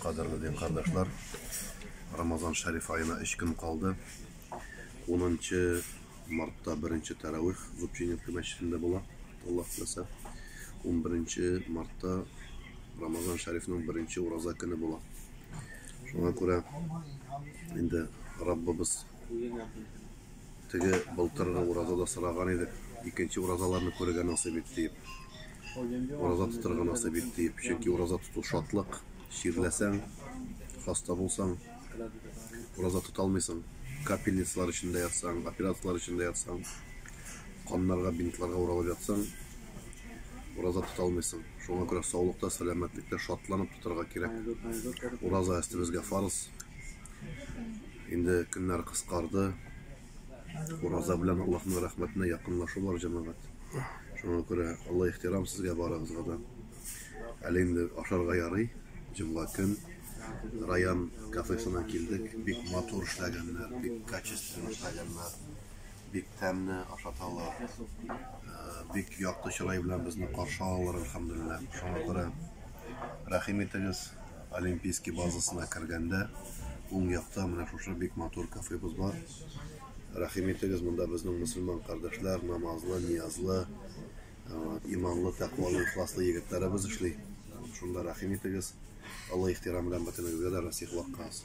Кадерле дин кардәшләр, Рамазан Шәриф аена 3 көн калды. 10 мартта беренче тәравих Зубчининка мәчетендә була, Аллаһ теләсә. 11 мартта Рамазан Шәрифның беренче ураза көне була. Шуңа күрә инде Раббыбыз Теге былтыргы уразада сораган идек, икенче уразаларны күрергә насыйп ит диеп. Ураза тотырга насыйп ит диеп. Чөнки ураза тоту шатлык, чирләсәң, хаста булсаң, ураза тота алмыйсың. Капельницалар эчендә ятсаң, операцияләр эчендә ятсаң, каннарга, бинтларга уралып ятсаң, ураза тота алмыйсың. Шуңа күрә саулыкта, сәламәтлектә шатланып тотарга кирәк. Ураза әстебезгә фарыз. Инде көннәр кыскарды. Ураза белән Аллаһның рәхмәтенә якынлашу бар, җәмәгать. Шуңа күрә олы ихтирам сезгә барыгызга да. Әле инде ашарга ярый. Җомга көн район кафесына килдек. Бик матур эшләгәннәр, бик качественно эшләгәннәр. Бик тәмле ашаталар. Бик якты чырай белән безне каршы алалар, әлхәмдулиллаһ. Шуңа күрә рәхим итегез. Олимпийский базасына кергәндә, уң якта менә шушы бик матур кафебыз бар. Рәхим итегез, монда безнең мусульман кардәшләр, намазлы, ниязлы, э, иманлы, тәкъвалы, ихласлы егетләребез эшли. Шунда рәхим итегез. Алла ихтирам белән бөтенегезгә дә насыйх ваккас.